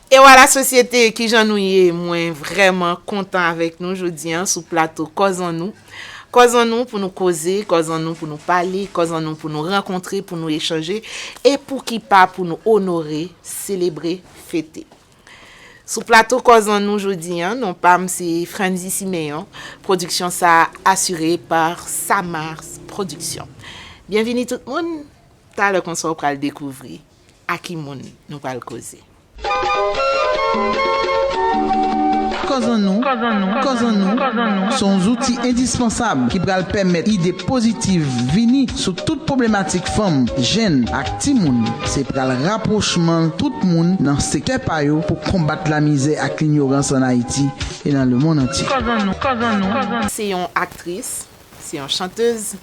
E wa la sosyete kijan nou ye mwen vrèman kontan avèk nou jodi an sou plato kòz an nou kòz an nou pou nou koze kòz an nou pou nou pale kòz an nou pou nou rankontre pou nou echanje e pouki pa pou nou onore selebre fete sou plato kòz an nou jodi an non pa m se Frandy Siméon pwodiksyon sa a asire pa Samars pwodiksyon byenvini tout moun talè konsa w pral dekouvri. A ki moun nou pral koze? Kòzan nou Kòzan nou se yon zouti endispansab ki pral pèmèt ide pozitiv vini sou tout pwoblematik fanm, jenn ak timoun. Se pral rapwochman tout moun nan sektè pa yo pou konbat lamizè ak linyorans an Ayiti e nan lemonn antye. Se yon aktris, Se yon chantez,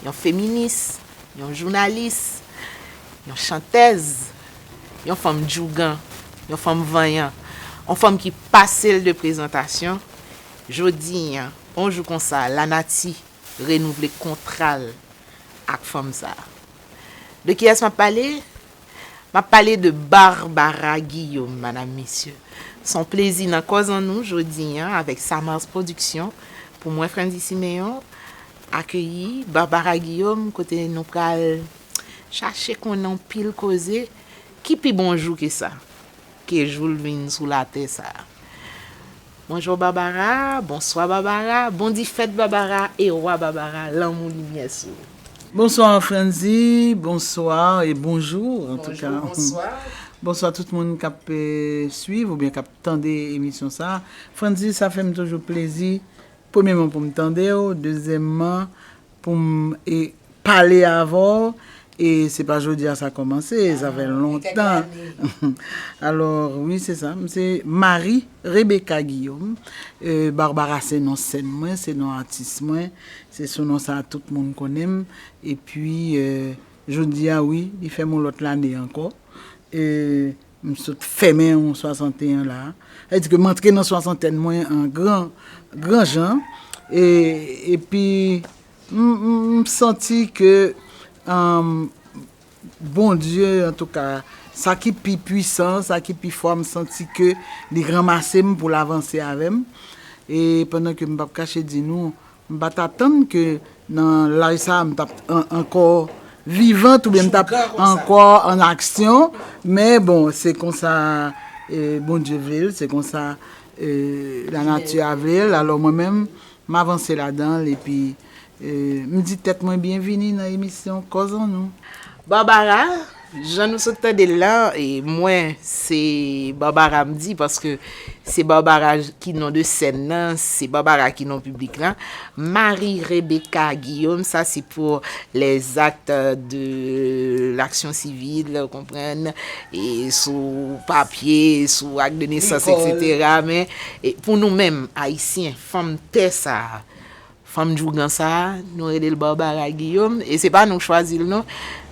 yon feminis, yon jounalis, yon chantèz, yon fanm djougan, yon fanm vanyan, yon fanm ki pase l de prezantasyon, jodi a, yon jou konsa, lanati renouvle kontra l ak fanm sa a. De kiyès m ap pale? M ap pale de Barbara Guillaume, madam, mesye. S on plezi nan kòz an nou jodi an avèk Samars Production pou mwen Frantzy Siméon akeyi Barbara Guillaume kote nou pral chache konnen on pil koze ki pi bon jou ke sa. Ke jou l vin sou latè sa. Bonjour Barbara bonswa Barbara bon di fèt Barbara e wa Barbara lanmou limyè sou ou. Bonsoir Frandy bonsoir et bonjour en tout cas bonsoir tout moun kap swiv oubyen kap tande emisyon sa Frandy sa fèm toujou plezi premyeman poum tandew dezyèmman Pou m e pale avè w e se pa jodi a sa kòmanse e sa fè lontan alò wi se sa m se Marie Rebecca Guillaume e Barbara se non sèn mwen se non atis mwen se sou non sa tout moun konnen m epi jodi a wi li fè m yon lòt lane ankò e. M sot fèmen yon 61 la. Sa vle di ke m antre nan swasantèn mwen an gran, gran jan. E, epi, m santi ke Bondye, antouka, sa ki pi pwisan, sa ki pi fò, m santi ke li ranmase m pou l avanse avè m. E, pandan ke m p ap kache di nou, M pa t atann ke nan laj sa a m t ap ankò vivant oubyen m t ap ankò an aksyon, men bon se konsa Bondye vle l, se konsa lanati a vle l, alò mwen menm m avanse ladan l epi m di tèt mwen byenvini nan emisyon Kòzannou. Barbara, Jan nou sot tande l la, mwen se Barbara m di paske se Barbara ki non de sèn nan, se Barbara ki non piblik la. Marie Rebecca Guillaume sa se pou les actes de l'action civile, ou konprann, sou papye, sou acte de naissance etc. Men pou nou menm Ayisyen, fanm tè sa a, Fanm djougan sa, nou rele l Barbara Guillaume e se pa nou k chwazi l non.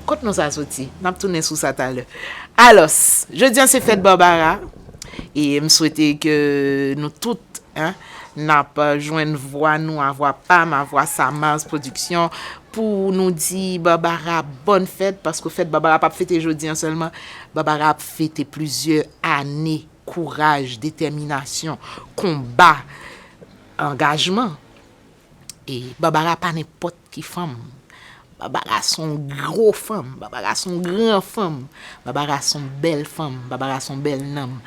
Kot non sa soti? N ap tounen sou sa talè. Alòs, jodi an se fèt Barbara e m swete ke nou tout n ap jwenn vwa nou a vwa pa m a vwa Samars Production pou nou di Barbara bòn fèt paske fèt Barbara pa p fete jodi an sèlman. Barbara ap fete plizyè ane kouraj, detèminasyon, konba. Angajman e Barbara pa nenpòt ki fanm Barbara son gro fanm Barbara son gran fanm Barbara son bèl fanm Barbara son bèl nanm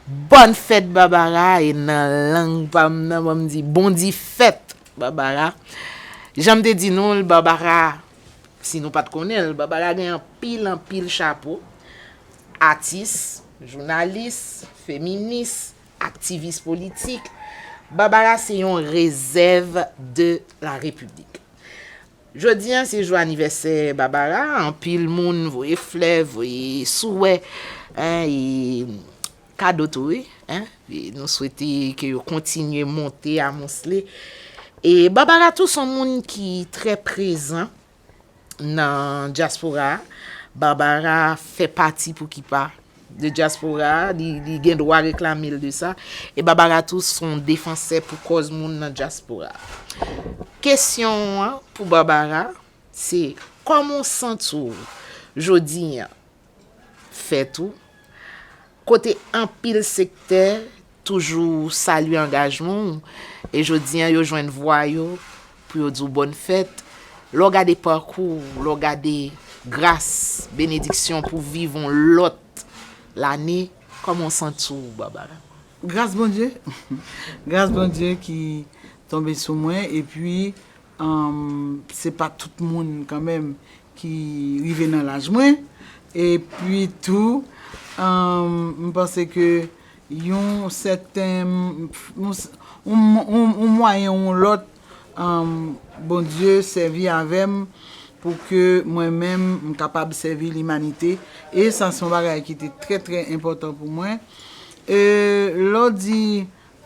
Bòn fèt Barbara e nan lang pa m nan banm di bon di fèt Barbara Jan m te di nou l Barbara si nou pat konnen l Barbara gen anpil anpil chapo atis jounalis feminis. Aktivis politik, Barbara se yon rezèv de la Repiblik. Jodi an se jou anivèsè Barbara, anpil moun voye flè, voye souwè, e kado tou wi. Nou swete ke yo kontinye monte amonsle. E Barbara tou son moun ki trè prezan nan dyaspora a. Barbara fè pati pou ki pa de dyaspora a, li gen dwa reklame l de sa. E Barbara tou s on defansè pou kòz moun nan dyaspora a. Kesyon an pou Barbara se, kòman w santi w jodi an fèt ou, kote anpil sektè toujou salye angajman ou, e jodi an yo jwenn vwa yo pou yo di w bòn fèt, lè w gade pakou w, lè w gade gras, benediksyon pou viv yon lòt lane, kòman w santi w Barbara? Gras Bondye, gras Bondye ki tonbe sou mwen epi Humm se pa tout moun kan menm ki rive nan laj mwen e pi tou humm m panse ke yon sèten yon mwayen ou yon lòt humm Bondye sèvi avè m pou ke mwen menm m kapab sèvi limanite e sa se yon bagay ki te trè trè enpòtan pou mwen e lè w di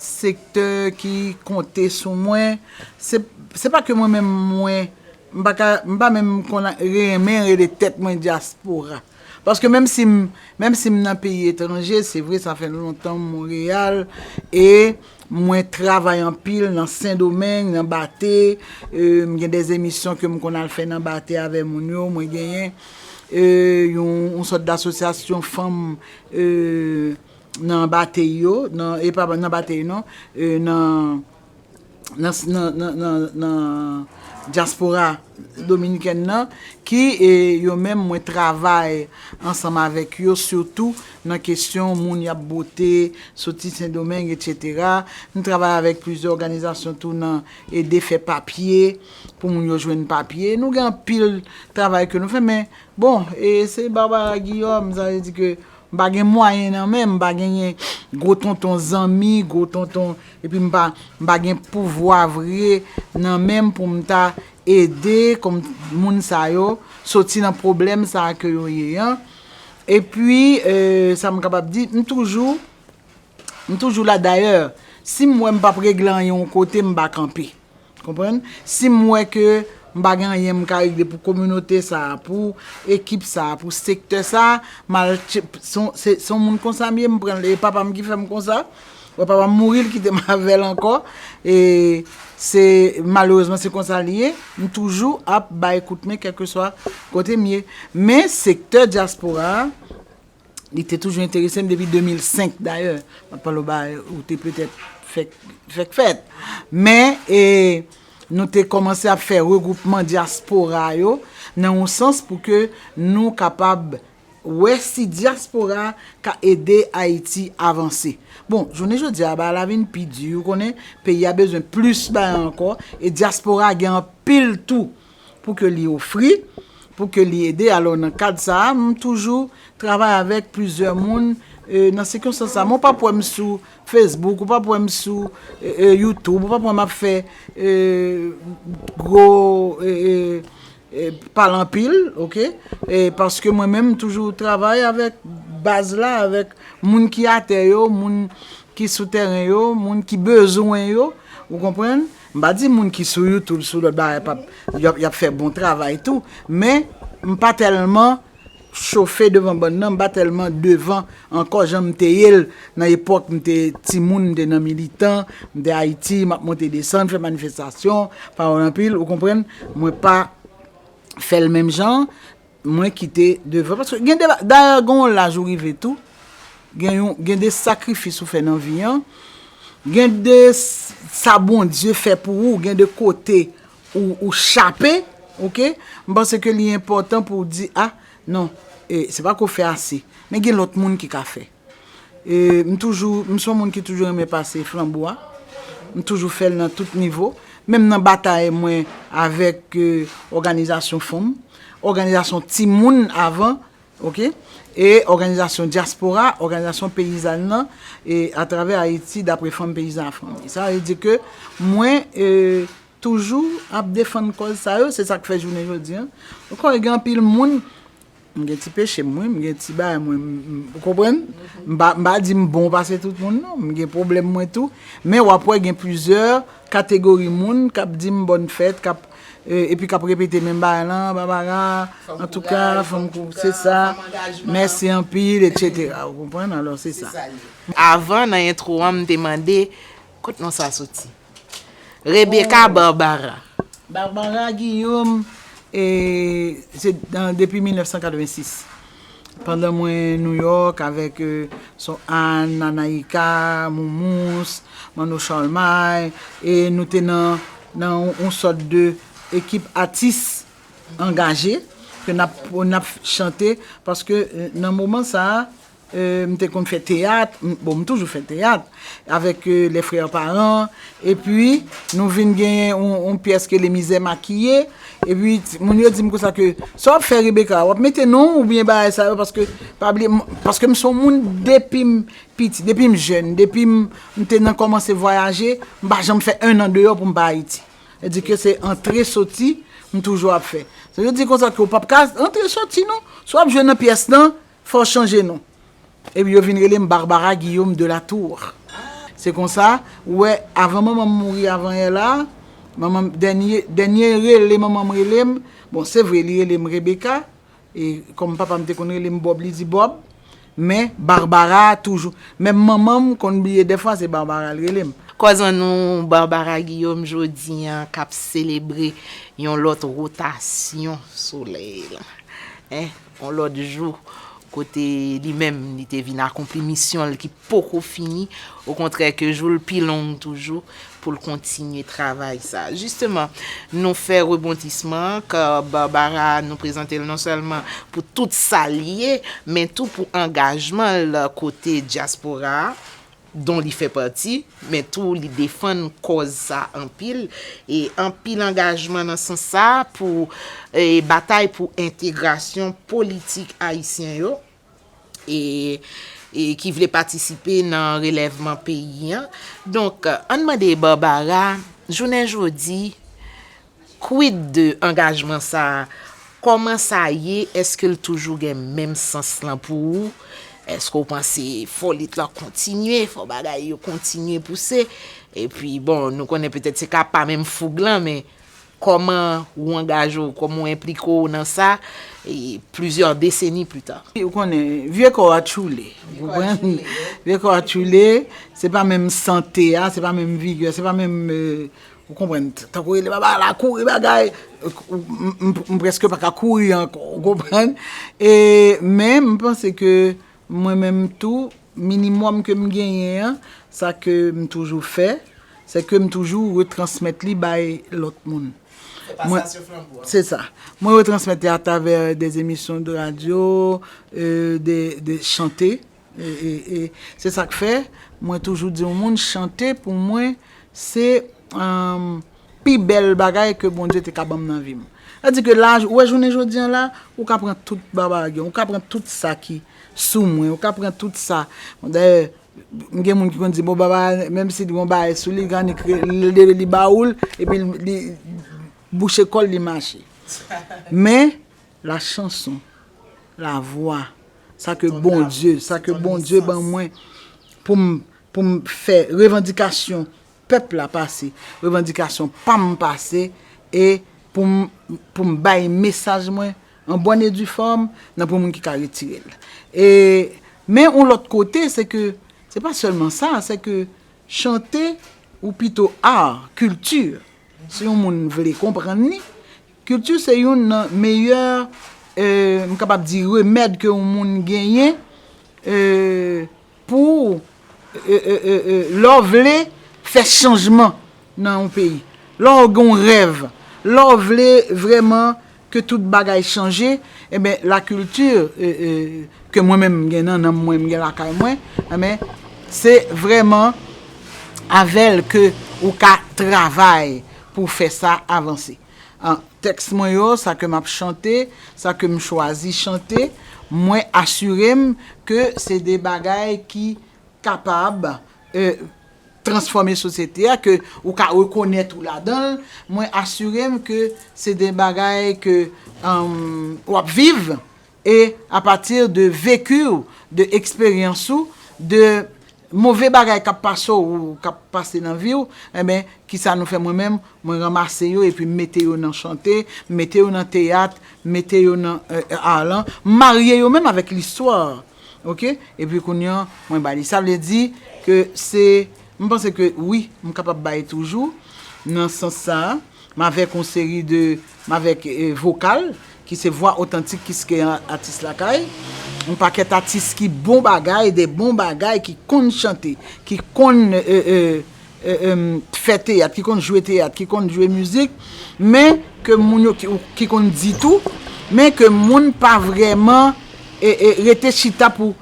sektè ki konte sou mwen, se pa ke mwen menm mwen, m pa ka, m pa menm konn renmen rele tèt mwen dyaspora. Paske menm si m, menm si m nan peyi etranje, se vre sa fè lontan m Monreyal e mwen travay anpil nan Sendomeng, nan Bate, m gen dè emisyon ke m konn al fè nan Bate avè moun yo, mwen genyen yon sòt dasosyasyon fanm nan batey yo nan e pa nan batey non e nan nan nan nan nan dyaspora dominikèn nan ki e yo menm mwen travay ansanm avèk yo sitou nan kesyon moun y ap bote soti sendomeng etc m travay avèk plizyè òganizasyon tou nan ede fè papye pou moun yo jwenn papye nou gen anpil travay ke nou fè men bon e se Barbara Guillaume sa vle di ke M pa gen mwayen nan men, m pa genyen gwo tonton zanmi, gwo tonton, epi m pa, m pa gen pouvwa vre nan men m pou m ta ede kòm moun sa yo soti nan pwoblèm sa a ke yo ye an. Epi, sa m kapab di, m toujou, m toujou la dayè, si m wè m p ap regle anyen yon kote, m pa kanpe. Konprann? Si m wè ke m pa gen anyen m ka regle pou kominote sa a, pou ekip sa a, pou sektè sa a, m al, se yon moun konsa m ye, m pran l, e papa m ki fè m konsa, wè papa m mouri, l kite m avè l ankò, e se, malerezman se konsa li ye, m toujou ap bay kout men kèlkeswa kote m ye. Men sektè dyaspora a. Li te toujou enterese m depi 2005 dayè. M ap pale w ba ou te petèt fèk fèt. Men, nou te kòmanse ap fè regwoupman dyaspora yo nan yon sans pou ke nou kapab wè si dyaspora ka ede Ayiti avanse. Bon, jounen jodi a, bagay la vin pi di, ou konnen, peyi a bezwen plis bagay ankò, e dyaspora gen anpil tou pou ke li ofri, pou ke li ede. Alò nan kad sa a, m toujou travay avèk plizyè moun nan sikonstans sa a. Men w pap wè m sou Facebook, ou pap wè m sou YouTube, ou pap wè m ap fè gwo pale anpil, ok? Paske mwen menm m toujou travay avèk baz la, avèk moun ki atè yo, moun ki sou tèren yo, moun ki bezwen yo, ou konprann? M pa di moun ki sou youtube sou lòt bagay pap yap fè bon travay tou men m pa tèlman chofe devan bann nan m pa tèlman devan ankò jan m te ye l nan epòk m te timoun m te nan militan m te ayiti map monte desann fè manifestasyon pawòl anpil ou konprann mwen pa fè l menm jan Mwen kite devan paske gen de bagay dayè gen yon laj ou rive tou gen yon gen de sakrifis ou fè nan vi an gen de sa Bondye fè pou ou gen de kote ou chape ok m panse ke li enpòtan pou w di a non se pa ke w fè ase men gen lòt moun ki ka fè. e m toujou m son moun ki toujou renmen pase flanbo a m toujou fèl nan tout nivo menm nan batay mwen avèk òganizasyon fanm òganizasyon timoun avan ok e òganizasyon dyaspora òganizasyon peyizàn nan e atravè ayiti daprè fanm peyizàn afranmi sa vle di ke mwen e toujou ap defann kòz sa yo se sak fè jounen jodi an m konnen gen anpil moun M gen ti peche m wi, m gen ti bagay mwen, ou konprann? M pa di m bon pase tout moun non, m gen pwoblèm mwen tou. Men w ap wè gen plizyè kategori moun k ap di m bòn fèt, k ap, epi k ap repete menm bagay lan, babara, antouka, fanm kouraj, se sa, mèsi anpil, etsetera, ou konprann? Alò se sa. Avan, nan entwo an, m te mande, kot non sa soti? Rebecca Barbara. Barbara Guillaume se depi 1986 pandan mwen New York avèk sò Anne, Anaïka, Moumous, Manno Charlemagne e nou te nan yon sòt de ekip atis angaje ke nap chante paske nan moman sa M te konn fè teyat, bon m toujou fè teyat, avèk les frères parents, epi nou vin genyen yon pyès ke les misères maquillées, epi moun yo di m konsa ke sa w ap fè Rebecca, w ap mete non w oubyen bagay sa yo paske, pa bliye, paske m se yon moun depi m piti, depi m jèn, depi m te nan kòmanse vwayaje, m pa janm fè un an deyò pou m pa Ayiti. Sa di ke se antre soti m toujou ap fè. Sa vle di konsa ke w p ap ka antre soti non. Si w ap jwe nan pyès lan, Fè w chanje non. Epi yo vin rele m Barbara Guillaume de la Tour. Se konsa, ou wè, avan manman m mouri avanhyè la, manman m, dènye, dènye rele manman m rele m, bon, se vre, li rele m Rebecca, e kòm papa m te konn rele m Bob, li di Bob, men Barbara a toujou. Menm manman m konn bliye dèfwa se Barbara l rele m. Kòz an nou, Barbara Guillaume jodi an k ap selebre yon lòt wotasyon solèy lan. yon lòt jou, kote li menm li te vin akonpli misyon l ki poko fini, okontrè ke jou l pi long toujou pou l kontinye travay sa. Jisteman, nou fè rebondisman an, kò Barbara a nou prezante l non sèlman pou tout sa l ye, men tou pou angajman l kote dyaspora a, don li fè pati, men tou li defann kòz sa anpil, e anpil angajman nan sans sa a pou batay pou entegrasyon politik ayisyen yo e ki vle patisipe nan relèvman peyi an. Donk, ann mande Barbara, jounen jodi, Quid de angajman sa? Kòman sa ye? Eske l toujou gen menm sans lan pou ou? Eske w panse fò lit lan kontinye, fò bagay yo kontinye pouse? Epi bon, nou konnen petèt se ka pa menm foug lan, men kòman ou angaje w, kòman w enplike w nan sa plizyè deseni pita? Ou konnen, vye kò a tchoule, ou konprann? Vye kò a tchoule, se pa menm sante a, se pa menm vigè, se pa menm. Ou konprann, tankou rele baba ala kouri bagay, m preske pa ka kouri ankò, ou konprann. E men m panse ke mwen menm tou, minimòm ke m genyen an, sa ke m toujou fè, se ke m toujou retransmèt li bay lòt moun. Se pasasyon flanbo a. Se sa. Mwen retransmèt li atravè de emisyon de radyo, de chante. E se sa k fè, mwen toujou di yon moun, chante pou mwen se pi bèl bagay ke Bondye te ka ban m nan vi m. Sa di ke la, ou wè jounen jodi an la, ou ka pran tout babage, ou ka pran tout sa ki sou mwen, ou ka pran tout sa. Dayè, m gen moun ki konn di, bon baba, menm si li gen yon bagay sou li, kan li ba ou l, epi li bouche kò l, li mache. Men. La chanson, la voix, sa ke Bondye, sa ke Bondye ban mwen pou m, pou m fè revandikasyon pèp la pase, revandikasyon pa m pase e pou m, pou m bay mesaj mwen an bòn e di fòm nan pou moun ki ka retire l. E, men yon lòt kote se ke, se pa sèlman sa, se ke chante ou pito art, culture, si yon moun vle konprann li, Kilti se youn nan meyè m kapab di remèd ke yon moun genyen pou lè w vle fè chanjman nan yon peyi, lè w gen yon rèv, lè w vle vrèman ke tout bagay chanje enben la kilti ke mwen menm m gen nan nanm mwen, m gen lakay mwen enben se vrèman avè l ke ou ka travay pou fè sa avanse. An tèks mwen yo, sa ke m ap chante, sa ke m chwazi chante, mwen asire m ke se de bagay ki kapab transfòme sosyete a, ke ou ka rekonèt ou ladan l, mwen asire m ke se de bagay ke w ap viv, E a pati de veki w, de eksperyans ou, de move bagay k ap pase w ou k ap pase nan vi w, enben, ki sa nou fè mwen menm, mwen ranmase yo epi m mete yo nan chante, m mete yo nan teyat, m mete yo nan ar lan, m marye yo menm avèk listwa. Ok? Epi kounye an, mwen ba li. Sa vle di ke se, m panse ke wi, m kapab bay toujou nan sans sa a. M avèk yon seri de, m avèk vokal ki se vwa otantik kiske atis lakay, yon pakèt atis ki bon bagay, de bon bagay, ki konn chante, ki konn fè teyat, ki konn jwe teyat, ki konn jwe mizik, men ke moun yo, ki konn di tou, men ke moun pa vrèman rete chita pou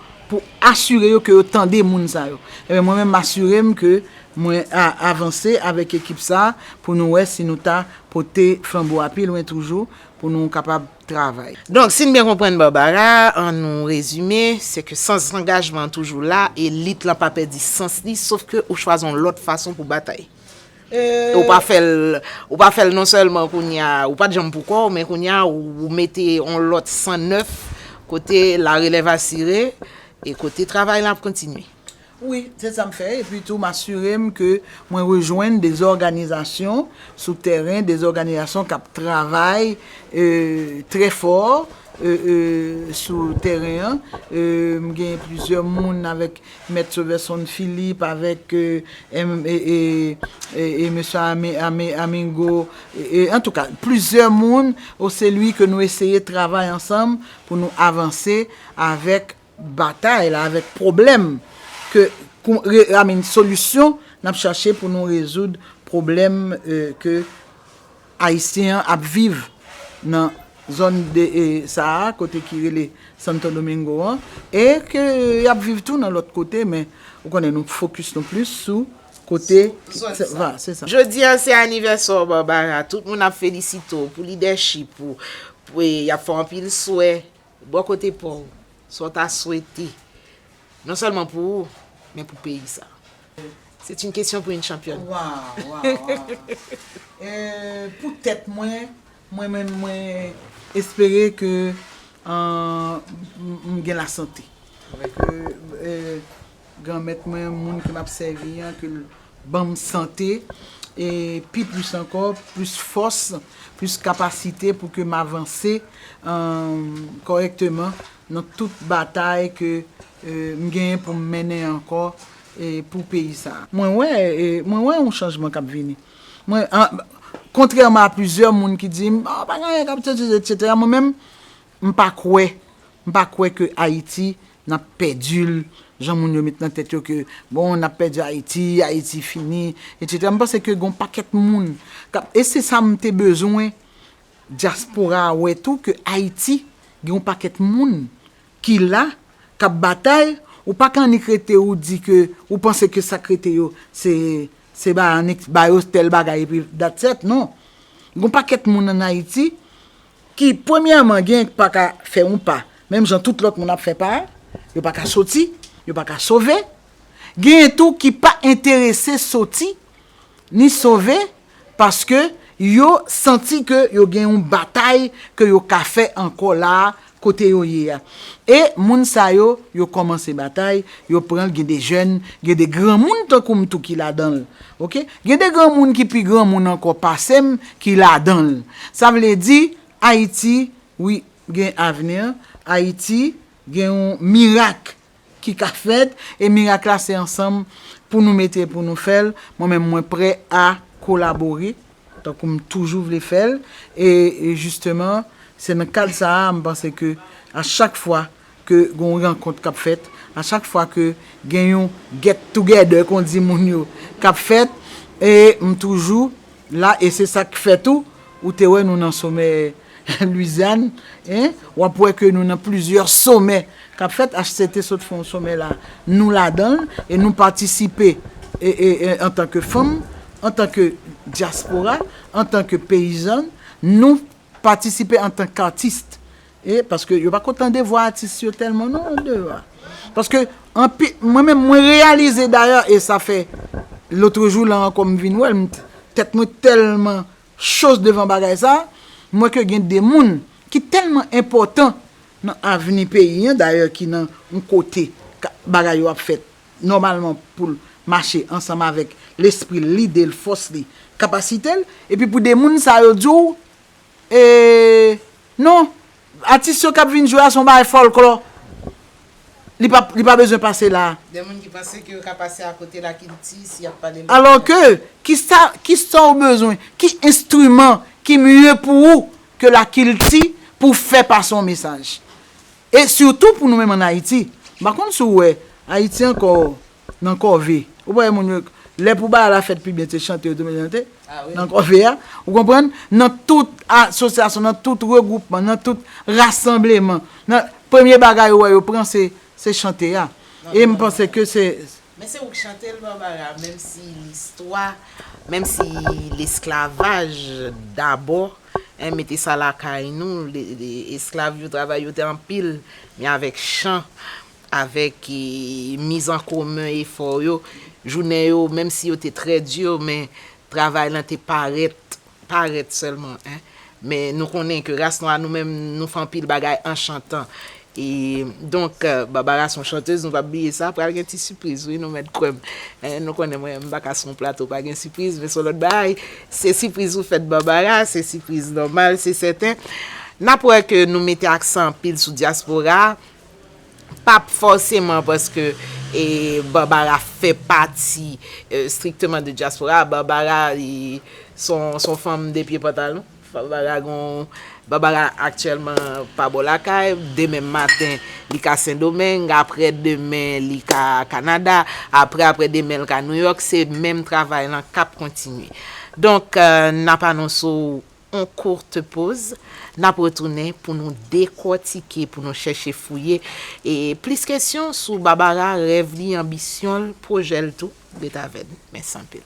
asire yo ke yo tande moun sa yo. Mwen menm m asire m ke Mwen a avanse avèk ekip sa pou nou wè si nou ta pote flanbo a pi lwen toujou pou nou kapab travay. Donk, si n byen konprann Barbara, an nou rezime, se ke sans angajman an toujou la e lit lan pa pèdi sans li sof ke ou chwazi yon lòt fason pou batay. E ou pa fè l, ou pa fè l non sèlman kounye a, ou pa t janm pou kò w, men kounye a ou mete yon lòt san nèf kote la relèv asire e kote travay la ap kontinye. Wi, se sa m fè, epi tou m asire m ke mwen rejwenn de òganizasyon sou tèren, de òganizasyon k ap travay trè fò sou tèren an. M gen plizyè moun avèk Mèt Soverson Philippe, avèk Mesye Amingo, antouka plizyè moun, o se lwi ke nou eseye travay ansanm pou nou avanse avèk batay la avèk pwoblèm ke pou amin solisyon nap chache pou nou rezoud pwoblèm ke ayisyen an ap viv nan zòn sa a kote ki rele santo domingo an e ke yap viv tou nan lòt kote men ou konnen nou fokis nou plis sou kote sa. Jodi a se anivèsè w Barbara tout moun ap felisite w pou lidèchip ou yap fè w anpil swè Bò kote pa w, sa w ta swete, non sèlman pou ou, men pou peyi sa? C'est une question pour une championne. Waw, waw, waw. Pou tèt mwen, mwen menm mwen espere ke m gen lasante. Granmèt mwen, moun ke m ap sèvi an, ke l ban m sante, e pi plis ankò, plis fòs, plis kapasite pou ke m avanse kòrèkteman nan tout batay ke m genyen pou m mennen ankò pou peyi sa a. Mwen wè, mwen wè yon chanjman k ap vini. Mwen, kontrèman a plizyè moun ki di m, pa gen anyen k ap chanje, etsetera, mwen menm, m pa kwè, m pa kwè ke Ayiti. Nap pèdil, jan moun yo met nan tèt yo ke bon nap pèdi Ayiti, Ayiti fini, etc. M panse ke gon pakèt moun kap, e se sa m te bezwen dyaspora a wè tou ke Ayiti gen yon pakèt moun ki la, kap batay, ou pa ka annik rete ou di ke ou panse ke sak rete yo se se ba annik ba yo tèl bagay epi that's et, non. Gon pakèt moun an Ayiti Ki premyèman gen k pa ka fè yon pa, menm jan tout lòt moun ap fè pa, yo pa ka soti, yo pa ka sove, genyen tou ki pa enterese soti, ni sove, paske yo santi ke yo gen yon batay ke yo ka fè ankò la a, kote yo ye a. E moun sa yo, yo kòmanse batay, yo pran l, gen de jèn, gen de granmoun tankou m tou ki ladan l, Ok gen de granmoun ki pi granmoun ankò pasem ki ladanl sa vle di ayiti wi gen avenir ayiti gen yon mirak ki ka fèt e mirak la se ansanm pou nou mete pou nou fèl mwen menm mwen prè a kolabore tankou m toujou vle fèl e jisteman se nan kad sa a m panse ke a chak fwa ke gen yon rankont kap fèt, a chak fwa ke gen yon get together kon di moun yo kap fèt e m toujou la e se sak fè tou ou te wè nou nan somè Louisiane e wap wè ke nou nan plizyè somè kap fèt HCT sot fè yon somè la nou ladanl e nou patisipe e e antan ke fanm antan ke diaspora antan ke peyizan nou patisipe antan k artiste. E paske yo pako tande vwa atis yo tèlman non andeyò a. Paske anpi mwen menm mwen reyalize dayè e sa fè lotrejou la ankò m vin wè l tèt mwen tèlman cho devan bagay sa a, m wè ke gen de moun ki tèlman enpòtan nan avni peyi an dayè ki nan yon kote bagay yo ap fèt nòmalman pou l mache ansanm avèk lespri l, lide l, fòs li, kapasite l epi pou de moun sa yo di w E non, atis yo kap vin jwe a son bagay fòlklò. Li pa li pa bezwen pase la. Gen moun ki panse ke yo ka pase akote lakilti si yap pale lòt lang. Alò ke, kisa kisa ou bezwen, ki enstriman ki mye pou ou ke lakilti pou w fè pase yon mesaj. E sitou pou nou menm an Ayiti. M pa konn si w wè, Ayiti ankò nan kòve ou pa wè moun yo lè pou bagay la fèt pi byen se chante yo te mete chante nan kòve a ou konprann nan tout asosyasyon nan tout regwoupman nan tout rasanbleman nan premye bagay ou wè yo pran se se chante a e m panse ke se. Men se ou k chante l Barbara menm si listwa menm si lesklavaj dabò hein mete sa lakay nou esklav yo travay yo te anpil men avèk chan Avèk miz an komen efò yo, jounen yo, menm si yo te trè di, men travay lan te parèt, parèt sèlman. Men nou konnen ke ras nwa nou menm nou fè anpil bagay anchantan. E donk, Barbara son chantez, nou pap bliye sa. Pral gen ti sipriz wi, nou mèt kwè m. Nou konnen mwen, m pa ka sou yon plato pa gen sipriz, men son lòt bagay. Se sipriz ou fèt Barbara, se sipriz nòmal, se sèten. Nap wè ke nou mete aksan anpil sou dyaspora. Pap fòseman paske Barbara fè pati strictement de diaspora a. Barbara li son fanm 2 pye pantalon. Barbara gon, Barbara aktyèlman pa bò lakay. Demen maten li ka Sendomeng, aprè demen li ka Kanada, aprè aprè demen li ka New York. Se menm travay lan kap kontinye. Donk nap anonse w. On courte pause, nap retounen pou nou dekòtike, pou nou chèche fouye e plis kesyon sou Barbara, rèv li, anbisyon l, pwojè l tou. Ret avè n. Mèsi anpil.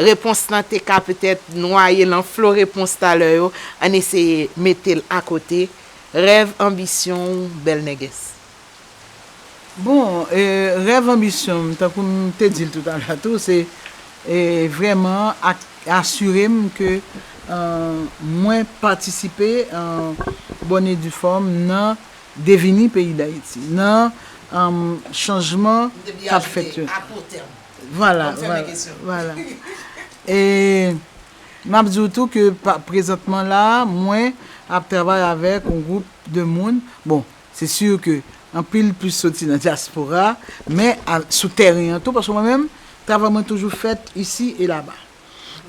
Repons lan te ka petèt nwaye lan flo repons talè yo, ann eseye mete l akote, Rèv anbisyon w, bèl nègès. Bon, rèv anbisyon m, tankou m te di l tou talè a tou, se vrèman asire m ke mwen patisipe an bòn e di fòm nan devini peyi Dayiti, nan chanjman k ap fèt yo. Vwala, vwala. E m ap di w tou ke prezantman la a, mwen ap travay avèk yon gwoup de moun, bon, se sur ke anpil plis soti nan dyaspora, men sou tèren an tou, paske mwen menm, travay mwen toujou fèt isi e laba.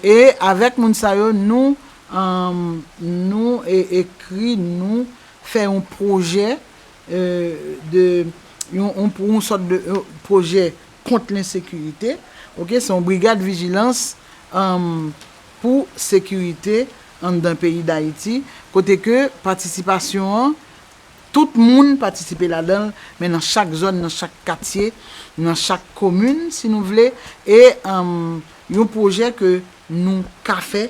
E avèk moun sa yo, nou, nou ekri, nou fè yon pwojè de, yon sòt de pwojè, kont lensekirite, ok, se yon brigad vijilans pou sekirite anndan peyi Dayiti, kote ke patisipasyon an, tout moun patisipe ladan l, men nan chak zòn, nan chak katye, nan chak komin, si nou vle, e yon pwojè ke nou ka fè,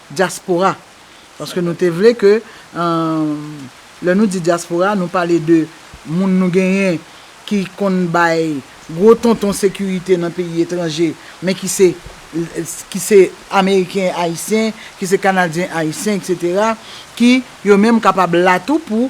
Dyaspora, paske nou te vle ke, lè nou di dyaspora, nou pale de moun nou genyen ki konn bay gwo tonton sekirite nan peyi etranje, men ki se, ki se Ameriken Ayisyen, ki se Kanadyen Ayisyen, etc. Ki, yo menm kapab la tou pou.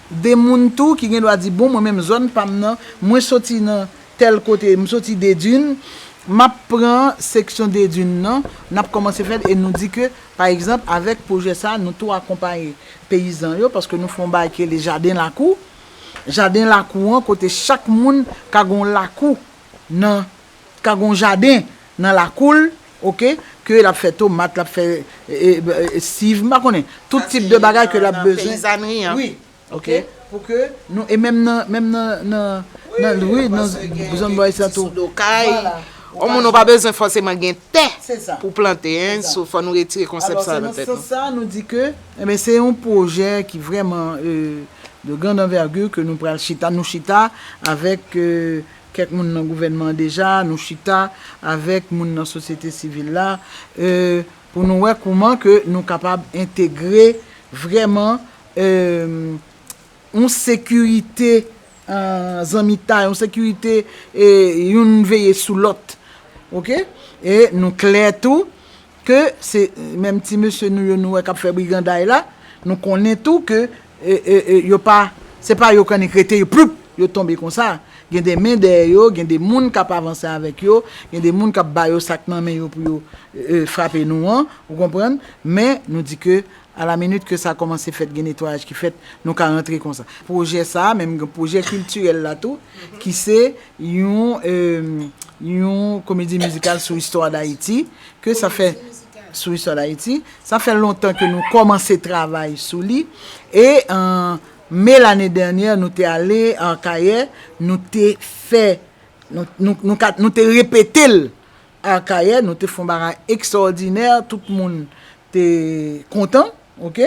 2 moun tou ki gen dwa di bon mwen menm zòn pam nan mwen soti nan tèl kote m soti Dedun map pran seksyon Dedun nan nap kòmanse fèl e nou di ke pa egzanp avèk pwojè sa nou tou akonpaye peyizan yo paske nou fè yon bagay ki rele jaden lakou jaden lakou an kote chak moun ka gon lakou nan ka gon jaden nan lakou l ok ke lap fè tomat lap fè siv m pa konnen tout tip de bagay ke lap bezwen wi ok pou ke nou e menm nan menm nan nan nan wi nan zòn bò isit la tou vwala on moun ou pa bezwen fòseman gen tè pou plante hein so fò nou retire konsèp sa nan tèt nou alò se nan sans sa nou di ke enben se yon pwojè ki vrèman de grande envergure ke nou pral chita nou chita avèk. Kèk moun nan gouvènman an deja, nou chita avèk moun nan sosyete sivil la pou nou wè kouman ke nou kapab entegre vrèman yon sekirite zanmitay, yon sekirite youn veye sou lòt. Ok? E nou klè tou Ke se menm ti mesye nou yo nou wè kap fè briganday la, nou konnen tou ke yo pa, se pa yo kannik rete yo ploup! yo tonbe konsa. Gen de men dèyè yo, gen de moun kap avanse avèk yo, gen de moun kap ba yo sak nan men yo pou yo frape nou an, ou konprann, men nou di ke a la minit ke sa kòmanse fèt gen netwayaj ki fèt, nou ka rantre konsa. Pwojè sa a, menm gen pwojè kiltirèl la tou, ki se yon yon komedi mizikal sou istwa Dayiti. Ke sa fè sou istwa Dayiti. Sa fè lontan ke nou kòmanse travay sou li. E an Me lane dènyè nou te ale Akayè, nou te fè, nou te repete l Akayè, nou te fè yon bagay ekstrawòdinè, tout moun te kontan. Ok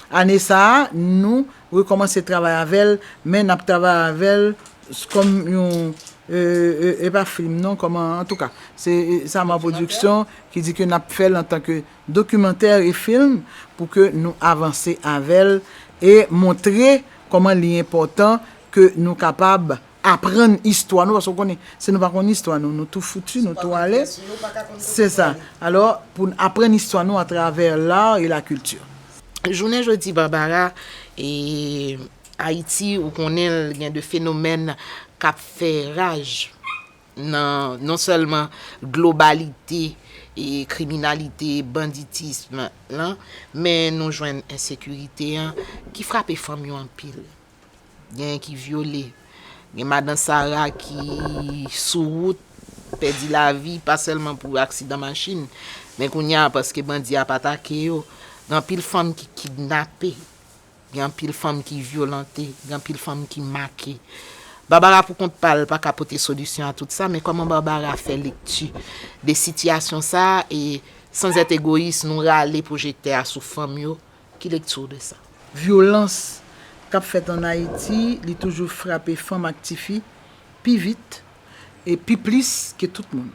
ane sa nou rekomanse travay avel men nap travay avel kom yon e pa film non koman antouka se Saman production ki di ke nap fel antanke documentaire e film pou ke nou avanse avel e montre koman li enpotan ke nou kapab aprann istwa nou paske ou konnen si nou pa konn istwa nou nou tou foutu nou tou ale se sa alò pou n aprann istwa nou atravè l'art et la culture. Jounen jodi Barbara e Ayiti ou konnen l gen de fenomèn k ap fè raj nan non sèlman globalite kriminalite banditism lan men nou jwenn ensekirite an ki frape fanm yo anpil Genyen ki vyole. Gen madan sara ki sou wout pèdi lavi pa sèlman pou aksidan machin men kounye a paske bandi ap atake yo. Gen anpil fanm ki kidnape. Gen anpil fanm ki vyolante. Gen anpil fanm ki make. Barbara pou kont pa l pa ka pote solisyon a tout sa men kòman Barbara fè lekti de sitiyasyon sa e sanzèt egoyis nou rale pwojektè a sou fanm yo Ki lekti w de sa? Vyolans k ap fèt ann Ayiti, li toujou frape fanm ak tifi pi vit e pi plis ke tout moun.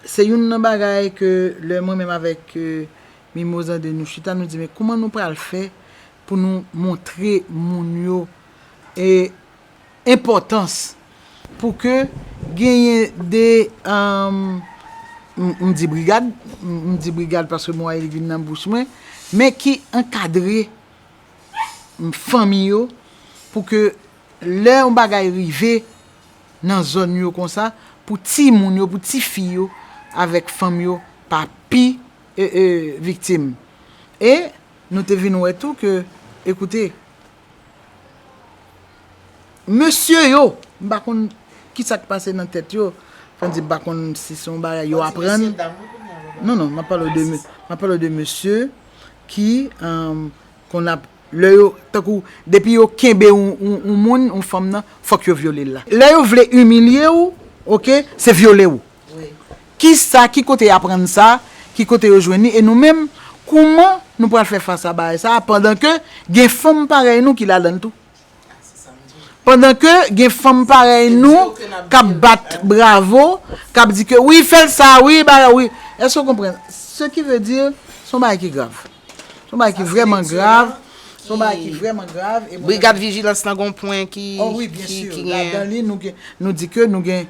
Se youn nan bagay ke lè mwen menm avèk Mimoz Andé nou chita, nou di men kouman nou pral fè pou nou montre moun yo e enpòtans pou ke genyen de, m di brigad, m di brigad paske mo a li vin nan bouch mwen, men ki ankadre fanmi yo pou ke lè yon bagay rive nan zòn yo konsa, pou timoun yo, pou tifi yo avèk fanm yo pa pi viktim. E nou te vin wè tou ke, ekoute. Mesye yo, m pa konn ki sa k pase nan tèt yo, fò n di m pa konn si se yon bagay yo aprann. Mwen di mesye dam wi kounya yo. Non non, m ap pale w de mesye. Mwen ap pale w de mesye ki konn ap, lè yo, tankou depi yo kenbe yon moun, yon fanm nan, fòk yo vyole l la. Lè yo vle imilye w, ok, se vyole w. Kisa, ki kote y aprann sa, ki kote yo jwenn li e nou menm, kouman nou pral fè fas a bagay sa a pandan ke gen fanm parèy nou ki ladan l tou? Pandan ke gen fanm parèy nou k ap bat bravo, k ap di ke wi fè l sa a wi, bagay wi. Èske w konprann? Se ki ve di, se yon bagay ki grav. Se yon bagay ki vrèman grav, se yon bagay ki vrèman grav. Brigad vijilans lan gen yon pwen ki gen. O wi, byensi, ladan li nou di ke nou gen.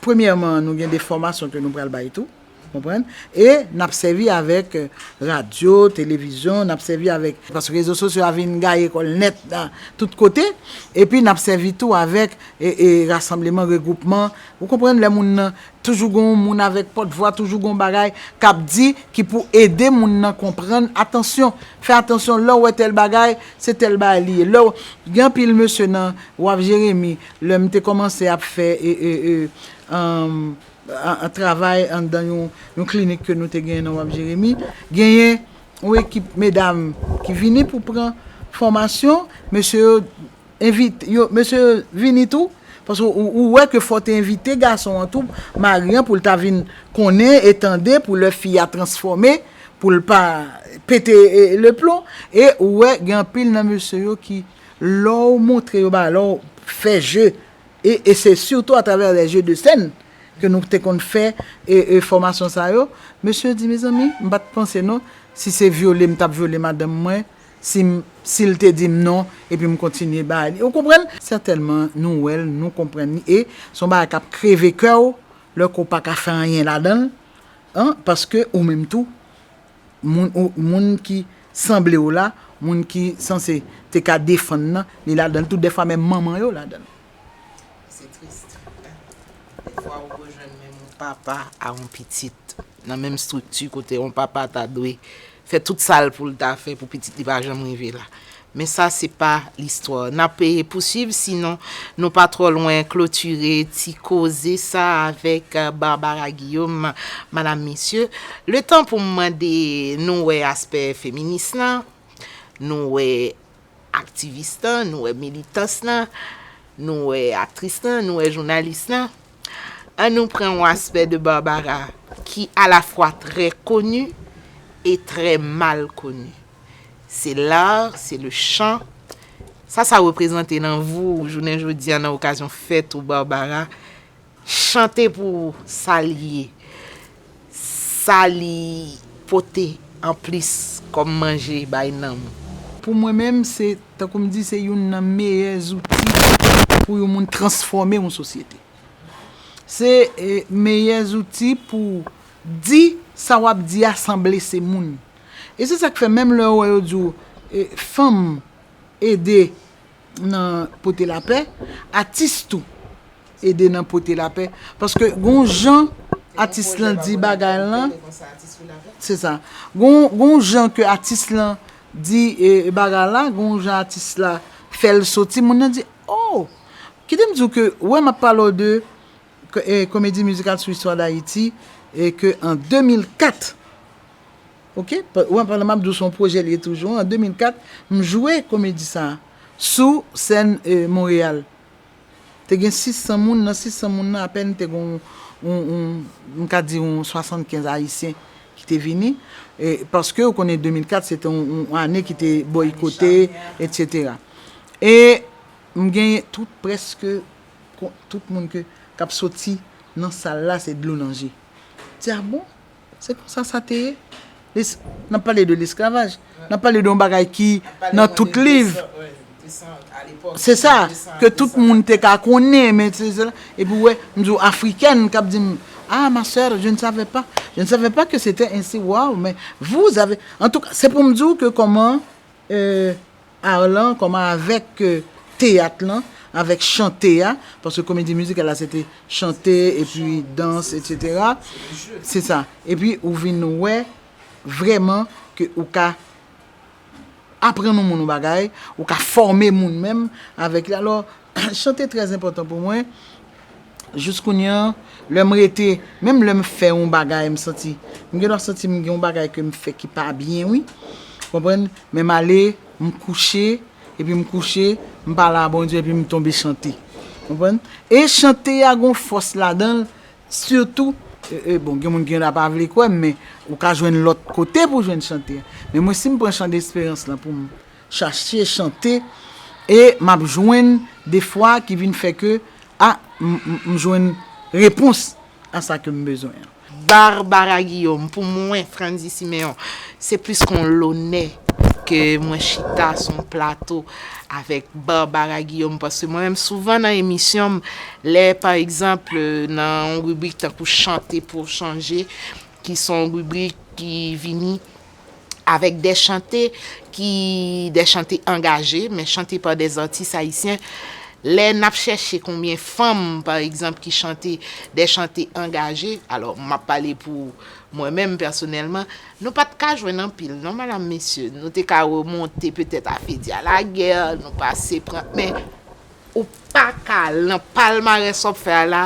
Premyèman nou gen de fòmasyon ke nou pral bay tou, ou konprann, e n ap sèvi avèk radyo, televizyon, n ap sèvi avèk, paske rezo sosyo a vin gaye kò l nèt tout kote, epi n ap sèvi tou avèk rasanbleman, regwoupman, ou konprann, lè moun nan, toujou gen yon moun avèk pòtvwa, toujou gen yon bagay k ap di ki pou ede moun nan konprann, atansyon, fè atansyon, lè w wè tèl bagay, se tèl bagay li ye, lè w, gen anpil mesye nan, w ap Jeremi. Lè m te kòmanse ap fè travay anndan yon klinik ke nou te genyen nan Wab Jeremi, genyen yon ekip medam ki vini pou pran fòmasyon, mesye yo envite, mesye yo vini tou, paske ou wè ke fò w te envite gason an tou, mari an, pou l ta vin konnen e tande pou lè fi a transfòme, pou l pa pete leplon, e ou wè gen anpil nan mesye yo ki. Lè w montre yo bagay, lè w fè jeu, e e se surtout à travers les jeux de scène ke nou te konn fè e e fòmasyon sa yo, mesye yo di mezanmi m pa t panse non si se vyole m t ap vyole madanm mwen si m si l te di m non epi m kontinye bay li ou konprann? Sètènman nou wè l, nou konprann li e s on bagay k ap kreve kè w lè ke w pa ka fè anyen ladan l an paske ou menm tou moun ki sanble w la, moun ki sanse te ka defann nan, li ladan l tou, dèfwa menm manman yo ladan l. Se tris, dèfwa ou rejwenn menm yon papa a yon pitit nan menm estrikti kote yon papa ta dwe fè tout sa l pou l ta fè pou pitit li pa janm rive la. Men sa se pa listwa. N ap pousuiv si non nou pa twò lwen klotire ti koze sa avèk Barbara Guillaume. Madam, mesye, letan pou m mande nou wè aspè feminis lan, nou wè aktivis lan, nou wè militans lan, nou wè aktris lan, nou wè jounalis lan. An nou pran yon aspè de Barbara ki alafwa trè koni e trè mal koni. Se l'art, se le chant. Sa sa reprezante nan vou jounen jodi a nan okazyon fèt ou Barbara? Chante pou ou sa li ye, sa li pote an plis kòm manje bay nanm ou? Pou mwen menm, se, tankou m di, se youn nan meyè zouti pou yon moun transfòme yon sosyete. Se meyè zouti pou di sa w ap di a san blese moun. E se sak fè menm lè ou wè yo di w fanm ede nan pote lapè, atis tou ede nan pote lapè paske gon jan atis lan di bagay lan, se sa gon jan ke atis lan di bagay la, gon jan atis la fè l soti moun nan di oh! Kite m di w ke wè m ap pale w de komedi mizikal sou istwa dayiti ke an 2004. Ok ou an pandan map diw son pwojè liye toujou an 2004 m jwe komedi sa sou sèn Montréal te gen 600 moun nan 600 moun nan apèn te gon yon m ka di yon 75 ayisyen ki te vini paske ou konnen 2004 se te yon ane ki te boykote etc e m gen tout prèske tout moun ke kap soti nan sal la se dlo nan je m di a bon. Se konsa sa te ye. N ap pale de lesklavaj. N ap pale de yon bagay ki nan tout liv. Se sa, ke tout moun te ka konnen. E pou wè, m di w Afrikèn k ap di m, Ah ma soeur, je ne savais pas. Je ne savais pas que c'était ainsi. Waw, men, vous avez. Antouka, se pou m di w ke kòman Art lan, kòman avèk teyat lan, avèk chante a, paske komedi mizikal la se te chante, epi dans, etsetera, se sa. Epi ou vin wè vrèman ke ou ka aprann yon moun yon bagay, ou ka fòme moun menm avèk li. Alò. Chante trè enpòtan pou mwen, jous kounye an, lè m rete, menm lè m fè yon bagay m santi, m gen dwa santi m gen yon bagay ke m fè ki pa byen wi, ou konprann, men m ale, m kouche, epi m kouche, m pale a Bondye epi m tonbe chante. Ou konprann? E chante a gen yon fòs ladan l, sitou, bon gen moun ki gen dwa pa vle kwè m men ou ka jwenn lòt kote pou jwenn chante a. Men mwen si m pran chan de esperans lan pou m. chache chante e map jwenn de fwa ki vin fè ke a m jwenn repons a sa ke m bezwen an. Barbara Guillaume, Pou mwen Frandy Siméon se plis kon lonè ke mwen chita sou yon plato avèk Barbara Guillaume paske mwen menm souvan nan emisyon m lè pa egzanp nan yon ribrik tankou chante pou chanje ki son ribrik ki vini avèk dè chante ki dè chante angaje, men chante pa dè zatis ayisyen, lè n ap chèche konbyen fanm pa egzanp ki chante dè chante angaje, alò m ap pale pou mwen menm pèsonèlman, nou pa t ka jwenn anpil non madam mesye, nou te ka remonte petèt a Fedia Laguerre, nou pase pran, men Ou paka lan palmarès wap fè a la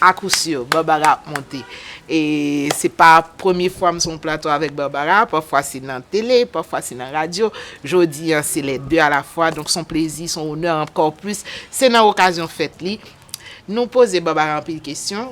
a kou sur Barbara ap monte e se pa premye fwa m sou yon plato avèk Barbara pafwa se nan tele pafwa se nan radyo jodi an se les deux à la fois donk son plezi son onè ankò plis se nan okazyon fèt li nou poze Barbara anpil kesyon.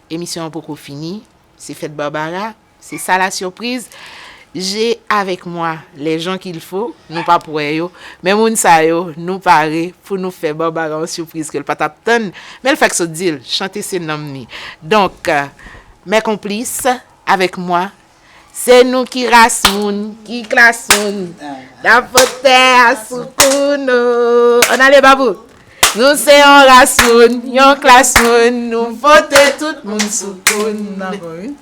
Emisyon an poko fini, se fèt Barbara, se sa la surprise, j'ai avec moi les gens qu'il faut, nou pap wè yo, men moun sa yo nou pare pou nou fè Barbara yon surprise ke l pa t ap tann, men l fèk sot di l, chante se nanm li. Donk, mes complices, avec moi, Se nou ki ras moun, ki klas moun, n'ap pot tè a sou kou nou. An ale Babou! Nou se yon ras moun, yon klas moun, nou pote tout moun sou kou nou.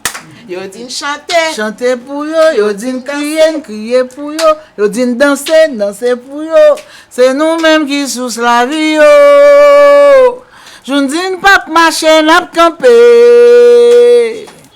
Yo di n chante, chante pou yo, yo di n kriye, n kriye pou yo, yo di n danse, n danse pou yo, se nou menm ki sous lavi yo. Jou n di n pap mache, n'ap kanpe.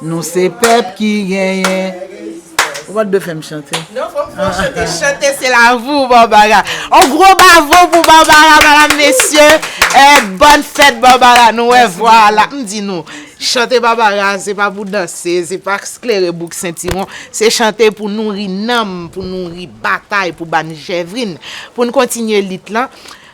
Nou se pèp ki genyen rezistans. Ou pat dwe fèm chante. Non fok fon chante chante se la vou Barbara on gro bavo pou Barbara madam mesye bòn fèt Barbara nou wè vwa a la m di nou chante Barbara se pa pou danse se pa sklere bouk sentiron se chante pou nouri nanm pou nouri batay pou bann jèvrin pou n kontinye lit lan.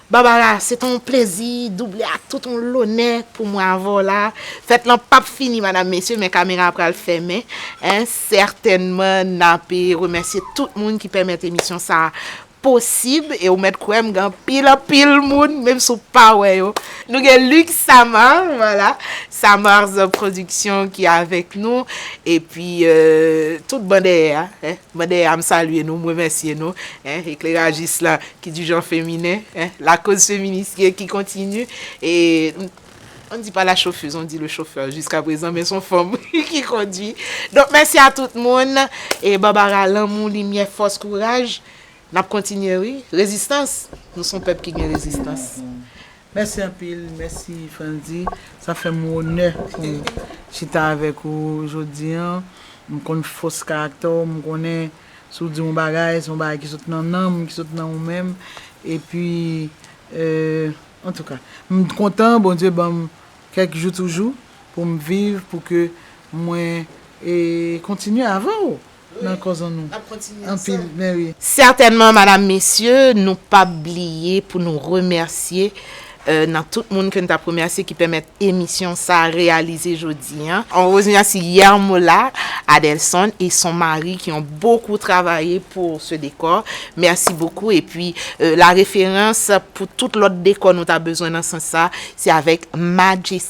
Barbara, se t on plezi double ak tout on lonè pou mwen avè w la. Fèt lan p ap fini madam mesye men kamera a pral fèmen. Sètènman n ape remèsye tout moun ki pèmèt emisyon sa a posib e ou mèt kwè m gen anpil anpil moun menm si w pa wè yo. Nou gen Luc Samar, vwala, Samar's production ki avèk nou epi tout ban dèyè a. Mande a m salye nou, m remèsye nou, eh eklerajis la ki di jan feminen, eh la koz feminis ye ki kontini e on ne dit pas la chauffeuse on dit le chauffeur jiska prezan men son fanm wi ki kondwi donk mèsi a tout moun e Barbara lanmou limyè fòs kouraj. Nap kontinye wi, rezistans! Nou son pèp ki gen rezistans. Mèsi anpil, mèsi Frandy, sa fèm onè poum chita avèk ou jodi an, m konn fòs karaktè w, m konnen si w di yon bagay se yon bagay ki sot nan nanm, ki sot nan ou menm, epi antouka m kontan Bondye banm kèk jou toujou poum viv pou ke mwen kontinye avè w. nan kòzon nou anpil men wi. Certainement madame mesye nou pap bliye pou nou remèsye nan tout moun ke n tap remèsye ki pèmèt emisyon sa reyalize jodi an. On remèsi Yermola Adelson et son mari qui ont beaucoup travaye pour ce décor merci beaucoup et puis la référence pour tout lòt décor nou ta bezwen nan sans sa se avèk Majestic.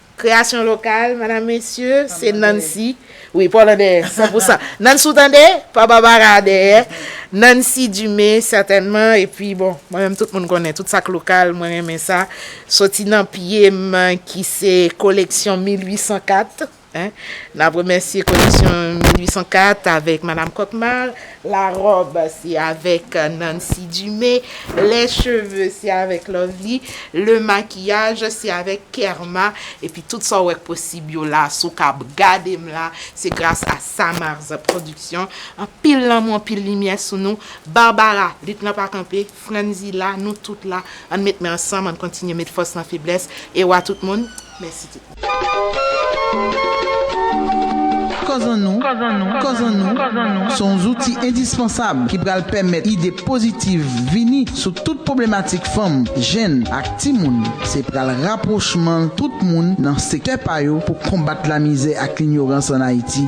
Kreyasyon lokal madam mesye se Nancy wi pa w nan dèyè san pou san Nancy ou tande pa Barbara a dèyè Nancy Dumé sètènman epi bon mwen menm tout moun konnen tout sa k lokal mwen renmen sa soti nan pye m ki se koleksyon 1804 n ap remèsye koleksyon 1804 avèk madam Kòkmar. La robe se avèk Nancy Dumé, lè cheve se avèk Lovely, le makiyaj se avèk Kerma epi tout sa w wè k posib yo la si w kab gade m la se gras a Samarz production anpil lanmou anpil limyè sou nou Barbara lit lan pa kanpe. Frandy la, nou tout la, ann met men ansanm, ann kontinye met fòs nan feblès, e wa tout moun, mèsi tout moun. Kòzan nou, kòzan nou, se yon zouti endispansab ki pral pèmèt ide pozitiv vini sou tout pwoblematik fanm, jenn ak timoun. Se pral rapwochman tout moun nan sektè pa yo pou konbat lamizè ak linyorans ann Ayiti.